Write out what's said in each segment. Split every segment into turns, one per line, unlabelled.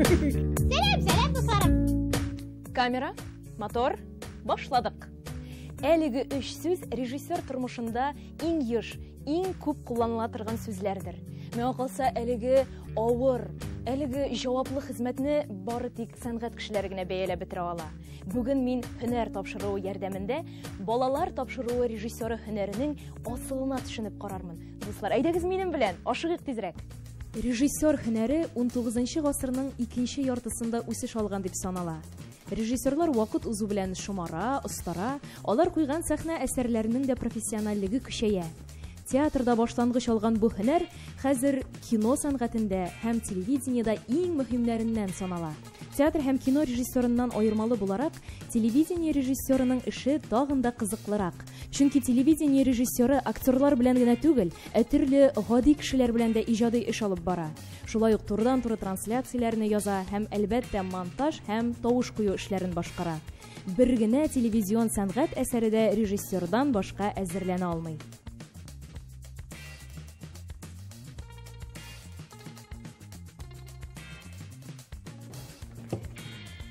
Сәлам, сәлам, дусларым. Камера,
мотор, башладык. Әлеге үч сүз режиссер тормышында иң еш, иң күп кулланыла торган сүзләрдер. Миңа калса, әлеге авыр, әлеге җаваплы хезмәтне бары тик сәнгать кешеләре генә бәяләп бетерә ала. Бүген мин һөнәр тапшыруы ярдәмендә балалар тапшыруы режиссеры һөнәренең асылына төшенеп карармын. Дуслар, әйдәгез минем белән, ашыгыйк тизрәк. Режиссер һөнәре 19 гасырның икенче яртысында үсеш алган дип санала. Режиссерлар вакыт узу белән шомара, остара, алар куйган сәхнә әсәрләренең дә профессиональлеге көчәя. Театрда башлангыч алган бу һөнәр хәзер кино сәнгатендә һәм телевидениедә иң мөһимнәреннән санала. Театр һәм кино режиссерыннан аермалы буларак, телевидение режиссерының эше тагын да кызыклырак. Чөнки телевидение режиссеры актерлар белән генә түгел, ә төрле гади кешеләр белән дә иҗади эш алып бара. Шулай ук турыдан-туры трансляцияләрне яза һәм, әлбәттә, монтаж һәм тавыш кую эшләрен башкара. Бер генә телевизион сәнгать әсәре дә режиссердан башка әзерләнә алмый.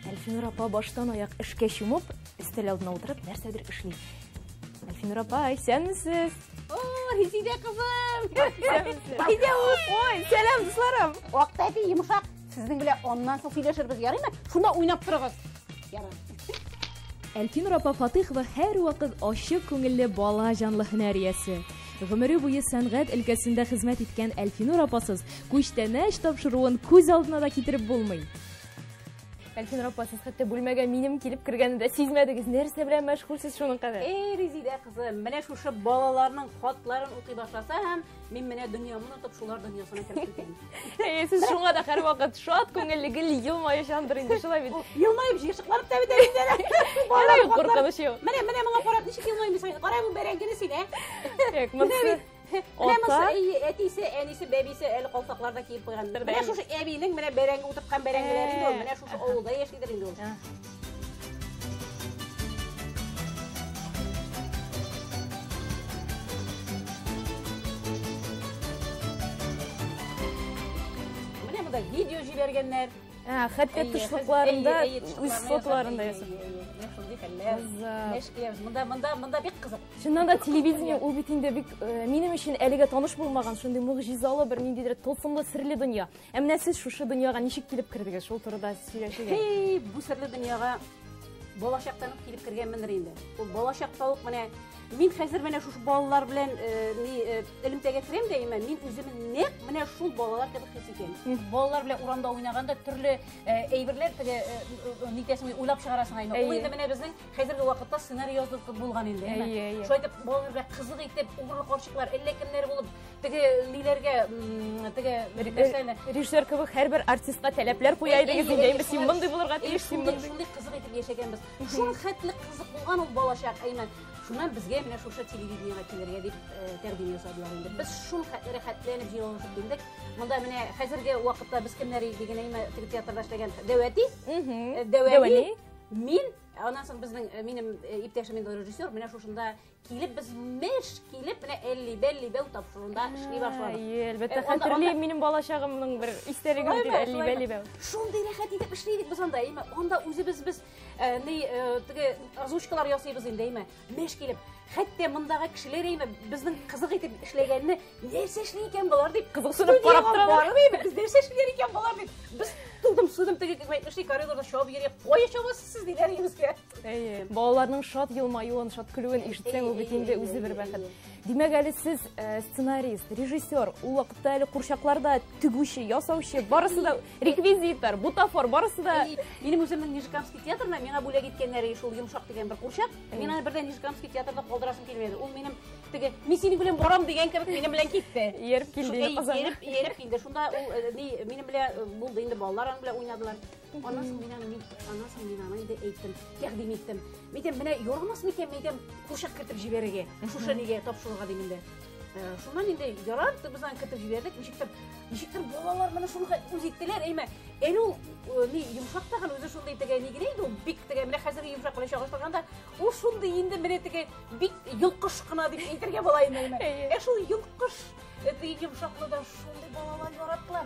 Әлфинур апа баштан аяк эшкә чумып, өстәл алдына утырып, нәрсәдер эшли. Әлфинур апа, исәнмесез? О, Резидә
кызым! Резидә
ул! Ой, сәлам, дусларым! Вакыт әти йомшак.
Сезнең белән аннан соң сөйләшербез, ярыймы? Шунда уйнап торыгыз.
Әлфинур апа Фатыйхова һәрвакыт ачык күңелле бала җанлы һөнәр иясе. Гомере буе сәнгать өлкәсендә хезмәт иткән Әлфинур апасыз күчтәнәч тапшыруын күз алдына да китереп булмый. Әлфинур апа, сез хәтта бүлмәгә минем килеп кергәнне дә сизмәдегез. Нәрсә белән мәшгульсез шуның кадәр? Эй, Резидә кызым,
менә шушы балаларның хатларын укый башласам, Мин менә дөньямны онытып, шулар дөньясына кереп китәм. Әйе, сез шуңа
да һәрвакыт шат күңелле, гел елмаючандыр инде шулай бит. Елмаеп җыйшыкланып та
бит инде. Ярый,
куркыныч юк. Менә, менә моңа карап ничек
елмаймыйсың? Кара бу бәрәңгене син, ә? Юк, монысы Менә
монысы әтисе, әнисе,
бәбисе әле калфакларда киеп куйган. Менә шушы әбинең менә бәрәңге утырткан бәрәңгеләре инде ул. Менә шушы авылда яшидер инде ул. да видео жибергеннер ә, хәтпе
тышлыкларында үз фотоларында мында
мында мында бик кызык чыннан да телевидение
ул бит инде бик минем өчен әлегә таныш булмаган шундый могҗизалы бер ниндидер тылсымлы серле дөнья Ә менә сез шушы дөньяга ничек килеп кердегез? Шул турыда сөйләшегез. Хей, бу серле дөньяга
балачактан ук килеп кергәнмендер инде. Ул балачакта ук менә мин хәзер менә шушы балалар белән э, ни э, элемтәгә керәм дә имә, мин үземне нәкъ менә шул балалар кебек хис итәм. Балалар белән урамда уйнаганда төрле э, әйберләр теге нитәсен уйлап чыгарасың инде. Ул инде менә безнең хәзерге вакытта сценарий язылып булган инде. Шулай итеп балалар белән кызык итеп угры карчыклар, әллә кемнәр булып теге ниләргә теге рикошены режиссер
кебек һәрбер артистка таләпләр куя идегез инде әйме син мондый булырга тиеш син мондый шундый кызык итеп яшәгәнбез
шул хәтле кызык булган ул балачак әйме шуннан безгә менә шушы телевидениега килергә дип тәкъдим ясадылар инде без шул хәтле рәхәтләнеп җыелышып килдек монда менә хәзерге вакытта без кемнәр идек дигән әйме теге театрда эшләгән дәвәти дәвәни мин аннан соң безнең минем иптәшем инде режиссер менә шушында килеп без меш килеп менә элли белли бәү тапшыруында эшли башладык әйе әлбәттә хәтерлим
минем балачагымның бер истәлеге дип элли белли бәү шундый рәхәт итеп
эшлидек без анда әйме анда үзебез без ни теге озвучкалар ясыйбыз инде әйме меш килеп хәтта мондагы кешеләр әйме безнең кызык итеп эшләгәнне нәрсә эшли икән болар дип кызыксынып карап торалар
без нәрсә эшлиләр
икән болар дип без тудым судым теге эшли коридорда чабып йөри кая чабасыз сез диләр егеткә Әйе. Балаларның
шат елмаюын, шат көлүен ишетсәң, ул бит инде үзе бер бәхет. Димәк, әле сез э, сценарист, режиссер, ул вакытта әле курчакларда тегүче, ясаучы, барысы да реквизитор, бутафор, барысы да Минем үземнең Нижеграмский
театрына миңа бүләк иткәннәре шул йомшак дигән бер курчак. Мин аны бердән Нижеграмский театрда калдырасым килмәде. Ул минем теге мин синең белән барам дигән кебек минем белән китте. Ияреп килде, Шул- әй, Казан.
Ияреп, ияреп килде. Шунда
ул э, ни, минем белән э, булды инде балалар аның белән уйнадылар. Аннан соң мин аны, аннан соң мин аны инде әйттем, тәкъдим иттем. Мин әйтәм, менә ярамас микән, мин әйтәм, курчак кертеп җибәрергә, шушы нигә тапшыруга дим инде. Э, шуннан инде ярар, без аны кертеп җибәрдек, ничектер, ничектер балалар моны шуныга үз иттеләр, әйме, әле ул э, ни йомшак тагын үзе шундый теге ни генә инде ул бик теге менә хәзерге йомшак белән чагыштырганда ул шундый инде менә теге бик йолкыш кына дип әйтергә була инде, әйме. Ә шул йолкыш э, теге йомшакны да шундый балалар яраталар.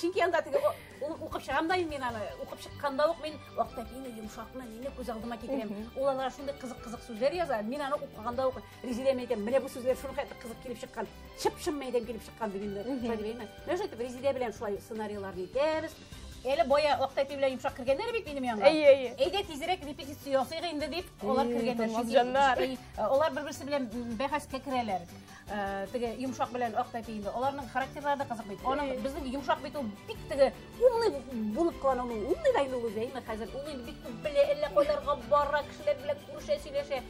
Чөнки анда теге укып чыгам да мин аны, укып чыкканда ук мин вакытта мине йомшакны, мине күз алдыма китерәм. Ул алар шундый кызык-кызык сүзләр яза, мин аны укыганда ук Резидә әйтәм, менә бу сүзләр шуның хәтле кызык килеп чыккан. Чып-чын мәйдән килеп чыккан дип инде. Шулай дип әйтәм. Менә шулай Резидә белән шулай сценарийларны итәбез. Әле боя вакыт әти белән йомшак кергәннәр бит минем янга. Әйе, әйе. Әйдә тизрәк репетиция ясыйк инде дип, алар кергәннәр. Чөнки алар бер-берсе белән бәхәскә керәләр. Э, теге йомшак белән ак тәпи инде аларның характерлары да кызык бит аның э. безнең йомшак бит ул бик теге умный булып кала ул умный да инде ул үзе әйме хәзер ул инде бик күп белә әллә кайларга бара кешеләр белән күрешә сөйләшә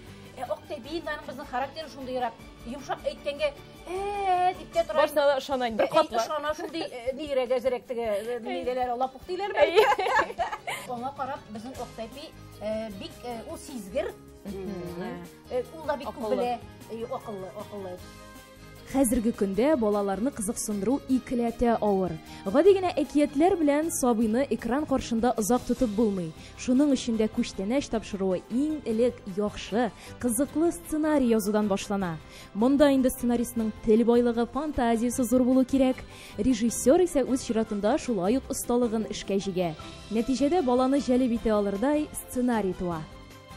ә ак тәпи инде аның безнең характеры шундыйрак йомшак әйткәнгә ә дип тә тора башына да ышана инде катлы
ышана шундый э,
нигерәк әзерәк теге нигәләр лапук диләрме аңа карап безнең ак тәпи бик ул сизгер Э, ул да бик күп белә, э, акыллы, акыллы.
Хәзерге көндә балаларны кызыксындыру икеләтә авыр. Гади генә әкиятләр белән сабыйны экран каршында озак тотып булмый. Шуның өчен дә күчтәнәч тапшыруы иң элек яхшы, кызыклы сценарий язудан башлана. Монда инде сценаристның тел байлыгы, фантазиясе зур булу кирәк. Режиссер исә үз чиратында шулай ук осталыгын эшкә җигә. Нәтиҗәдә баланы җәлеп итә алырдай сценарий туа.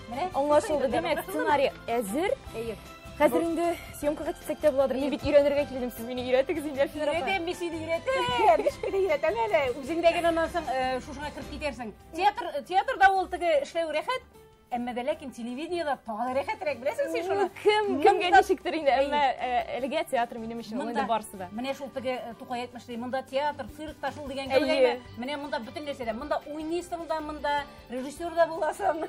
Менә аңлашылды, димәк, сценарий әзер. Әйе. Хәзер инде съемкага китсәк тә буладыр. Мин бит өйрәнергә килдем, сез мине өйрәтегез инде, Әлфинә апа. Өйрәтәм, мин сине
өйрәтәм. Бишкә дә өйрәтәм әле. Үзең дә генә аннан соң э, шушыңа кереп китәрсең. Театр, театрда ул теге эшләү рәхәт, әмма дә ләкин телевидениедә тагы да рәхәтрәк, беләсең син шуны. Кем, кемгә ничектер
инде, әмма э, әлегә театр минем өчен ул инде барсы да. Менә шул теге э, Тукай
әйтмешли, монда театр, цирк та шул дигән кебек. Менә монда бөтен нәрсә дә. Монда уйныйсың да, монда режиссер да буласың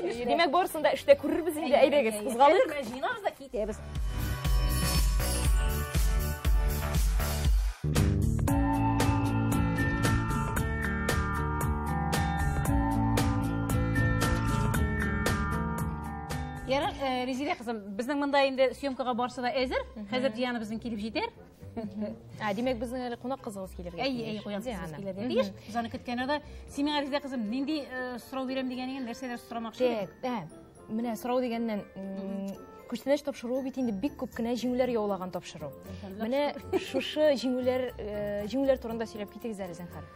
димәк барысын
да эштә күрербез инде әйдәгез кузгалыйк җыйнабыз да китәбез
Ярар, э, Резилә кызым, безнең монда инде съемкага барсы да әзер. Хәзер Дианабызның килеп җитәр. Ә,
димәк, безнең әле кунак кызыбыз килергә. Әй, әй, куян кызыбыз
килергә. Дигеш, заны көткәне дә. Синең Ариза кызым, нинди э, сорау бирәм дигән икән, нәрсәләр сорамакчы? Тек, ә, менә сорау
дигәннән, күчтәнәч тапшыруы бит инде бик күп кенә җиңүләр яулаган тапшыру. Менә шушы җиңүләр, э, җиңүләр турында сөйләп китегез әле, зәнхар.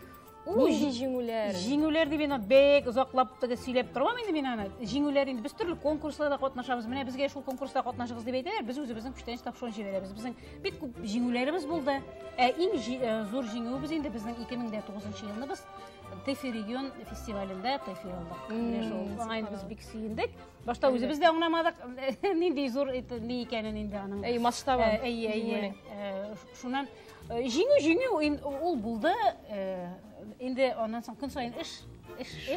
Нинди җиңүләр? Җиңүләр дип мина
бек озаклап тыгы сөйләп торам инде мин аны. Җиңүләр инде без төрле конкурсларда катнашабыз. Менә безгә шул конкурста катнашыгыз дип әйтәләр. Без үзебезнең күчтәнәч тапшыруын җибәрәбез. Безнең бик күп җиңүләребез булды. Ә иң э, зур җиңүебез инде безнең 2009 елны без Тефи регион фестивалендә Тефи алдык. Менә шул. Аңа инде без бик сөендек. Башта үзебез дә аңламадык, нинди зур ни икәнен инде аның. Әй, масштабы. Әй,
әй, әй.
шуннан э, җиңү җиңү ул булды э, инде аннан соң көн саен эш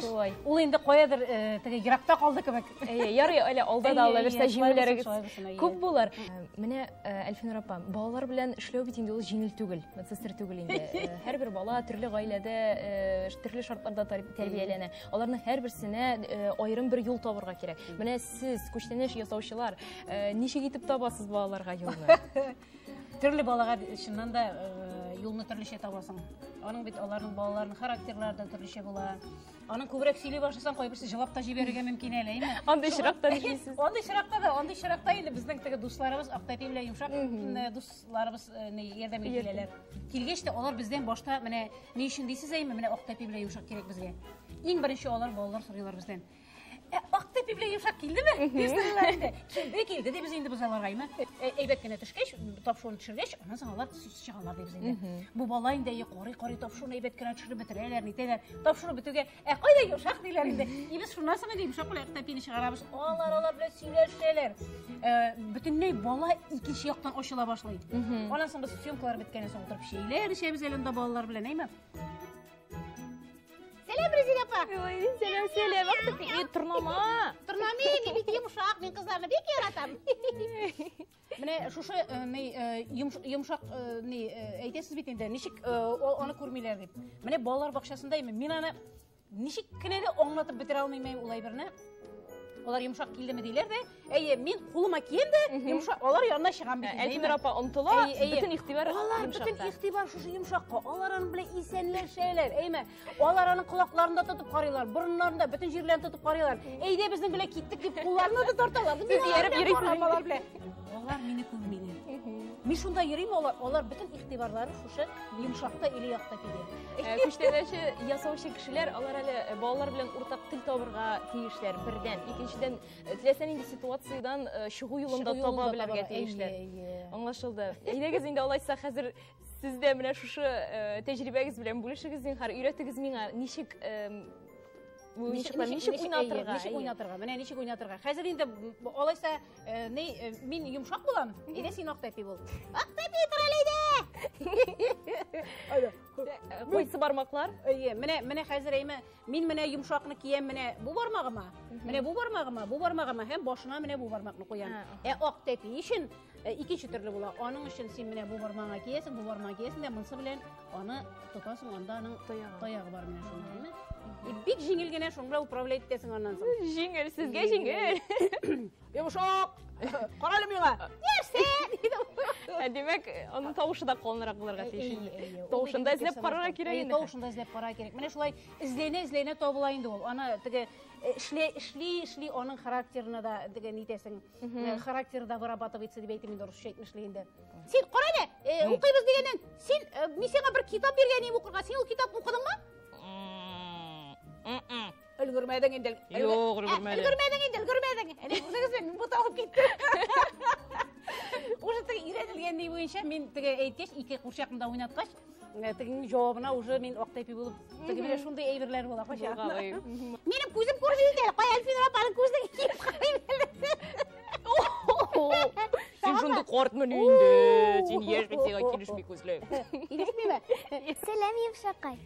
шулай ул инде каядыр э, теге еракта калды кебек әйе ярый әле алда
да аллабирса җиңүләрегез күп булыр менә әлфинур апа балалар белән эшләү бит инде ул җиңел түгел медсестер түгел инде һәрбер бала төрле гаиләдә төрле шартларда тәрбияләнә аларның һәрберсенә аерым бер юл табырга кирәк менә сез күчтәнәч ясаучылар ничек итеп табасыз балаларга юлны Төрле
балага чыннан да э, юлны төрлечә табасың. Аның бит аларның балаларының характерлары да төрлечә була. Аның күбрәк сөйли башласаң, кайберсе җылап та җибәрергә мөмкин әле, әйме? Андый очракта ни эшлисез?
Андый очракта да, андый
очракта инде безнең теге дусларыбыз Актәпи белән Йомшак э, дусларыбыз э, ни ярдәм итәләр. Килгәч тә алар бездән башта менә ни өчен дисез әйме, менә Актәпи белән Йомшак кирәк безгә. Иң беренче алар балалар сорыйлар бездән. Акты пивле йомшак килдеме? Бисмиллаһи. Килде, килде дип инде без аларга имә. Әйбәт кенә төшкәч, тапшуны төшергәч, аннан соң алар чыгалар дип инде. Бу бала инде корый корый тапшуны әйбәт кенә төшереп бетерәләр, нитәләр. Тапшуны бетүгә, ә кайда йомшак диләр инде. И без шуннан соң инде йомшак белән акты пивне чыгарабыз. Алар алар белән сөйләшәләр. Бөтенләй бала икенче яктан ачыла башлый. Аннан соң без съемкалар беткәннән соң утырып чәйләр эчәбез әле монда балалар белән, әйме? сәлем рәзилә апа сәлем сәлем
ах ты и торнама торнама не
бит йомшак мин кызларны бик яратам менә шушы ни йомшак ни әйтәсез бит инде ничек аны күрмиләр дип менә балалар бакчасында именно мин аны ничек кенә дә аңлатып бетерә алмыйм ул әйберне алар йомшак килдеме диләр дә Әйе, мин кулыма кием дә, йомшак, алар янына чыгам бит. Әйтмер апа омтыла,
бөтен игътибар алар бөтен игътибар
шушы йомшакка. Алар аны белән исәнләшәләр. Әйме, алар аны колакларында тотып карыйлар, борыннарында бөтен җирләрен тотып карыйлар. Әйдә безнең белән киттек дип кулларны да тарталар. Без ияреп йөрибез
алар белән. Алар мине
күрмиләр. Мин шунда йөрим, алар, алар бөтен игътибарлары шушы йомшакта или якта килә. Күчтәнәче
ясаучы кешеләр, алар әле балалар белән уртак тел табырга тиешләр. Бердән, икенчедән, Э, теләсә нинди ситуациядән э, чыгу юлын да таба белергә тиешләр аңлашылды әйдәгез инде алайса хәзер сез дә менә шушы э, тәҗрибәгез белән бүлешегез зинһар өйрәтегез миңа ничек ничек уйнатырга ничек уйнатырга менә
ничек уйнатырга хәзер инде алайса мин йомшак булам әйдә син ак тәпи бул ак тәпи тор әле әйдә кайсы
бармаклар әйе менә менә хәзер
әйме Мин менә йомшакны киям менә бу бармагыма, менә бу бармагыма, бу бармагыма һәм башына менә бу бармакны куям. Ә ак тәпи өчен э, икенче төрле була. Аның өчен син менә бу бармагыңа киясең, бу бармагыңа киясең дә монысы белән аны тотасың, анда аның таягы бар менә шуның белән. И бик җиңел генә шуны управлять итәсең аннан соң. Җиңел, сезгә
җиңел. Йомшак!
Кара әле миңа! Нәрсә? Ә
димәк, аның тавышы да калынрак булырга тиеш инде. Тавышында эзләп карарга кирәк инде. Тавышында эзләп карарга кирәк. Менә
шулай эзләнә эзләнә табыла инде ул. Аны теге эшли эшли эшли аның характерына да теге нитәсең. Характер да вырабатывать итсә дип әйтим инде русча әйтмешли инде. Син кара әле, укыйбыз дигәннән, син мин сиңа бер китап биргән идем укырга. Син ул китапны укыдыңмы? Өлгермәдең инде. Юк, өлгермәдең.
Өлгермәдең инде, өлгермәдең.
Әнә үзегез белән мин буталып киттем. Уже теге өйрәнелгән ни буенча мин теге әйткәч, ике курчакны да уйнаткач, э, тегенең җавабына уже мин актайпи булып, теге менә шундый әйберләр була кача. Минем күзем күрми инде, кая Альфина апаның күзен киеп карый
Син шундый картмы инде? Син яшь бит, сиңа килешми күзләр. Килешмиме?
Сәлам,
Евшакай.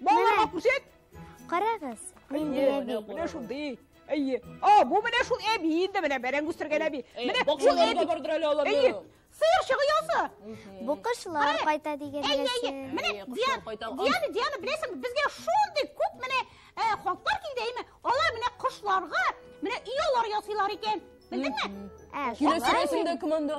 Балаларга күрсәт. Карагыз,
нинди әби. Менә шундый.
Әйе. А, бу менә шул әби инде менә бәрәң үстергән әби. Менә шул әби бардыр
әле аларны. Әйе. Сыер чыгы ясы.
Бу кошлар
кайта дигән нәрсә. Әйе, әйе. Менә
Диана, Диана, беләсең, безгә шундый күп менә хатлар килде, әйме? Алар менә кошларга менә өй ясыйлар икән. Белдеңме? Ә, киләсе рәсемдә
кем анда?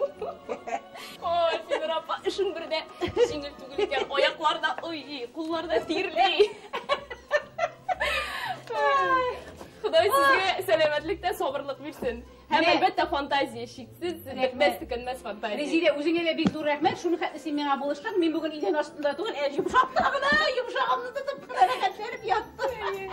Ой, Синур апа, эшең бер дә җиңел түгел икән. Аяклар да уйый, куллар да тирли. Ходай сезгә сәламәтлек тә сабырлык бирсен. Һәм Менә- әлбәттә фантазия шиксез, Рәхмәт. бетмәс төкәнмәс фантазия. Резидә, үзеңә дә бик зур
рәхмәт. Шуны хәтле син миңа булыштың. Мин бүген идән астында түгел, ә йомшак кына, йомшагымны тотып, рәхәтләнеп яттым.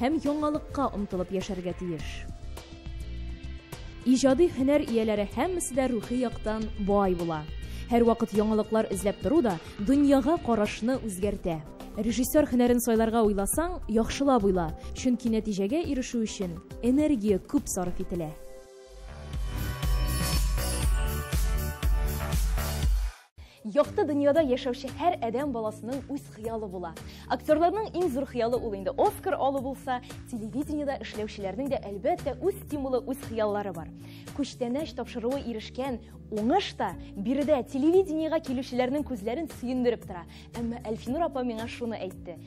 һәм яңалыкка омтылып яшәргә тиеш. Иҗади һөнәр ияләре һәммәсе дә рухи яктан бай була. Һәрвакыт яңалыклар эзләп тору да дөньяга карашны үзгәртә. Режиссер һөнәрен сайларга уйласаң, яхшылап уйла, чөнки нәтиҗәгә ирешү өчен энергия күп сарыф ителә.
Якты дөньяда яшәүче һәр адәм баласының үз хыялы була. Актерларның иң зур хыялы ул инде Оскар алу булса, телевидениедә эшләүчеләрнең дә әлбәттә үз стимулы, үз хыяллары бар. Күчтәнәч тапшыруы ирешкән уңыш та биредә телевидениегә килүчеләрнең күзләрен сөендереп тора. Әмма Әлфинур апа миңа шуны әйтте,